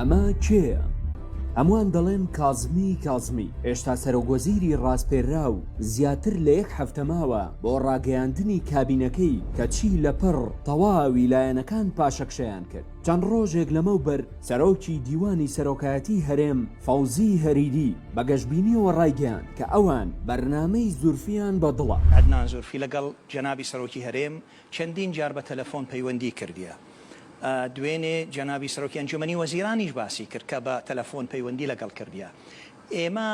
ئەمە کێیە؟ هەمووان دەڵێن کازمی کازمی هێشتا سەرۆگۆزیری ڕاستپێرا و زیاتر لە یەک هەفتەماوە بۆ ڕاگەیاندنی کابینەکەی کەچی لەپڕ تەواوی لایەنەکان پاشەکشەیان کرد چەند ڕۆژێک لەمەوبەر سەرۆکی دیوانی سەرۆکایەتیی هەرێم، فەوزی هەریری، بە گەشبینییەوە ڕایگەیاند کە ئەوان بەرنامەی زورفییان بە دڵە. عەدنان زورفی لەگەڵ جەنابی سەرۆکی هەرێم چەندین جار بە تەلەفۆن پەیوەندیی کردیە. دوێنێ جەنابی سەرۆکی ئەنجوومەنی وەزیرانیش باسی کرد کە بە تەلەفۆن پەیوەندی لەگەڵ کردیە. ئێمە.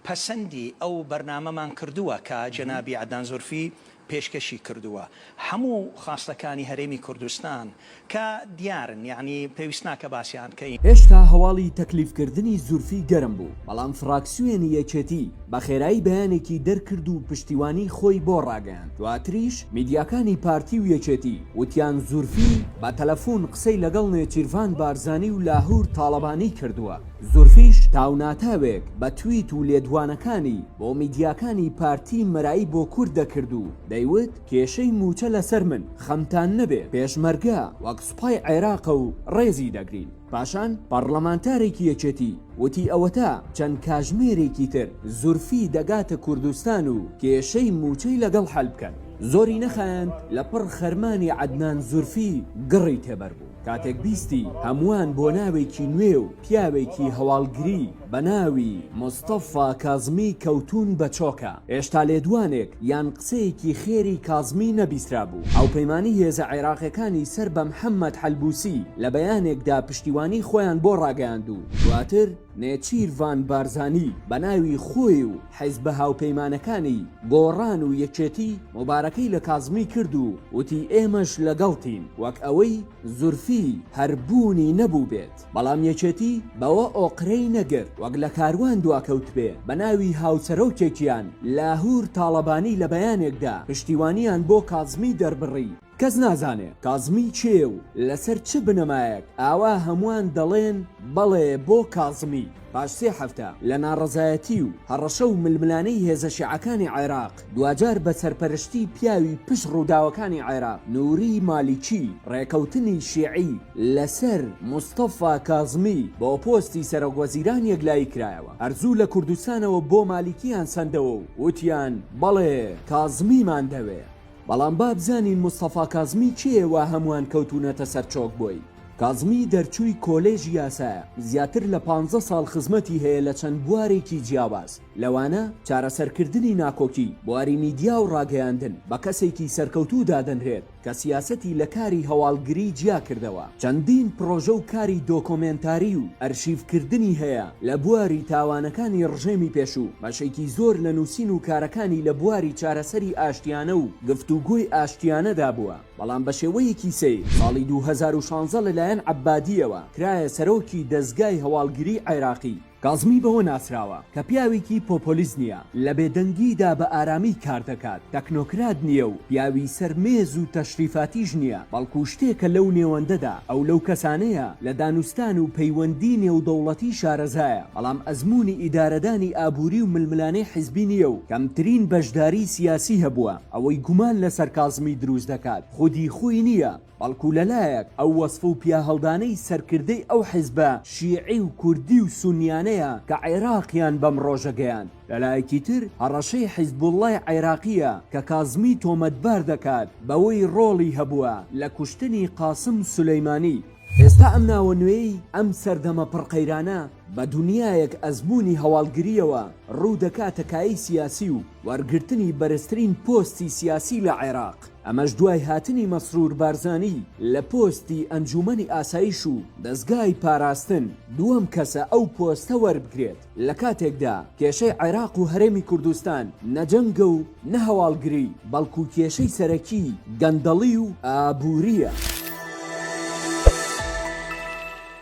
پەسەندی ئەو بەرنامەمان کردووە کە جەنابی عەدنان زورفی پێشکەشی کردووە هەموو خواستەکانی هەرێمی کوردستان کە دیارن یەعنی پێویست ناکە باسیان کەین. هێشتا هەواڵی تەکلیف کردنی زورفی گەرم بوو، بەڵام فڕاکسیۆنی یەکێتی بە خێرایی بەیانێکی دەرکرد و پشتیوانی خۆی بۆ ڕاگەیاند، دواتریش میدیاکانی پارتی و یەکێتی وتیان زورفی بە تەلەفون قسەی لەگەڵ نێچیرڤان بارزانی و لاهور تاڵەبانی کردووە. زورفیش تاوناتاوێک بە تویت و لێدوانەکانی بۆ میدیاکانی پارتی مەرایی بۆ کورد دەکرد و دەیوت کێشەی مووچە لەسەر من، خەمتان نەبێ پێشمەرگە وەک سوپای عێراقە و ڕێزی دەگرین. پاشان پەڕڵەمانتارێکی یەکێتی وتی ئەوەتا چەند کاژمێرێکی تر زورفی دەگاتە کوردستان و کێشەی مووچەی لەگەڵ حەل بکەن. زۆری نەخایاند لەپڕ خەرمانی عەدنان زورفی گڕی تێبەربوو. کاتێک بیستی هەمووان بۆ ناوێکی نوێ و پیاوێکی هەواڵگری بە ناوی، مستەفا کازمی، کەوتوون بە چۆکە، هێشتا لێدوانێک یان قسەیەکی خێری کازمی نەبیسترابوو. هاوپەیمانی هێزە عێراقیەکانی سەر بە محەمەد حەلبوسی لە بەیانێکدا پشتیوانی خۆیان بۆ ڕاگەیاند و دواتر نێچیرڤان بارزانی بە ناوی خۆی و، حیزبە هاوپەیمانەکانی، گۆڕان و یەکێتی، موبارەکەی لە کازمی کرد و وتی ئێمەش لەگەڵتین، وەک ئەوەی زورفی هەر بوونی نەبووبێت، بەڵام یەکێتی بەوە ئۆقرەی نەگرت وەک لە کاروان دواکەوتبێ، بە ناوی هاوسەرۆکێکیان، لاهور تاڵەبانی لە بەیانێکدا پشتیوانیان بۆ کازمی دەربڕی. کەس نازانێ کازمی کێیە و لەسەر چ بنەمایەک ئاوا هەموان دەڵێن بەڵێ بۆ کازمی پاش سێ هەفتە لە ناڕەزایەتی و هەڕەشە و ململانێی هێزە شیعەکانی عێراق دواجار بە سەرپەرشتی پیاوی پشت ڕووداوەکانی عێراق نوری مالیکی ڕێکەوتنی شیعی لەسەر مستەفا کازمی بۆ پۆستی سەرۆک وەزیران یەکلایی کرایەوە هەر زوو لە کوردستانەوە بۆ مالیکیان سەندەوە و وتیان بەڵێ کازمیمان دەوێ. بەڵام بابزانین مستەفا کازمی کێیە وا هەموان کەوتونەتە سەر چۆک بۆی؟ کازمی دەرچووی کۆلێژی یاسایە، زیاتر لە پانزە ساڵ خزمەتی هەیە لە چەند بوارێکی جیاواز، لەوانە، چارەسەرکردنی ناکۆکی، بواری میدیا و ڕاگەیاندن، بە کەسێکی سەرکەوتوو دادەنرێت کە سیاسەتی لە کاری هەواڵگری جیا کردەوە. چەندین پڕۆژە و کاری دۆکۆمێنتاری و ئەرشیڤکردنی هەیە لە بواری تاوانەکانی ڕژێمی پێشوو، بەشێکی زۆر لە نووسین و کارەکانی لە بواری چارەسەری ئاشتیانە و گفتوگۆی ئاشتیانەدا بووە، بەڵام بە شێوەیەکی سەیر ساڵی دوو هەزار و شانزە لەلایەن عەبادییەوە کرایە سەرۆکی دەزگای هەواڵگری عێراقی. کازمی بەوە ناسراوە کە پیاوێکی پۆپۆلیست نییە، لە بێدەنگیدا بە ئارامی کار دەکات، تەکنۆکرات نییە و پیاوی سەر مێز و تەشریفاتیش نییە، بەڵکو شتێکە لەو نێوەندەدا، ئەو لەو کەسانەیە لە دانوستان و پەیوەندی نێودەوڵەتی شارەزایە، بەڵام ئەزموونی ئیدارەدانی ئابووری و ململانێ حزبی نییە و کەمترین بەشداری سیاسی هەبووە، ئەوەی گومان لەسەر کازمی دروست دەکات خودی خۆی نییە، بەڵکو لەلایەک ئەو وەسف و پیاهەڵدانەی سەرکردەی ئەو حیزبە شیعی و کوردی و سونیانەیە کە عێراقیان بەم ڕۆژە گەیاند، لەلایەکی تر هەڕەشەی حیزبوڵڵای عێراقییە کە کازمی تۆمەتبار دەکات بەوەی ڕۆڵی هەبووە لە کوشتنی قاسم سولەیمانی. ئێستا ئەم ناوە نوێیەی ئەم سەردەمە پڕ قەیرانە، بە دونیایەک ئەزموونی هەواڵگرییەوە ڕوو دەکاتە کایەی سیاسی و وەرگرتنی بەرزترین پۆستی سیاسی لە عێراق، ئەمەش دوای هاتنی مەسرور بارزانی لە پۆستی ئەنجوومەنی ئاسایش و دەزگای پاراستن، دووەم کەسە ئەو پۆستە وەربگرێت، لە کاتێکدا کێشەی عێراق و هەرێمی کوردستان نە جەنگە و نە هەواڵگری، بەڵکو کێشەی سەرەکی گەندەڵی و ئابوورییە.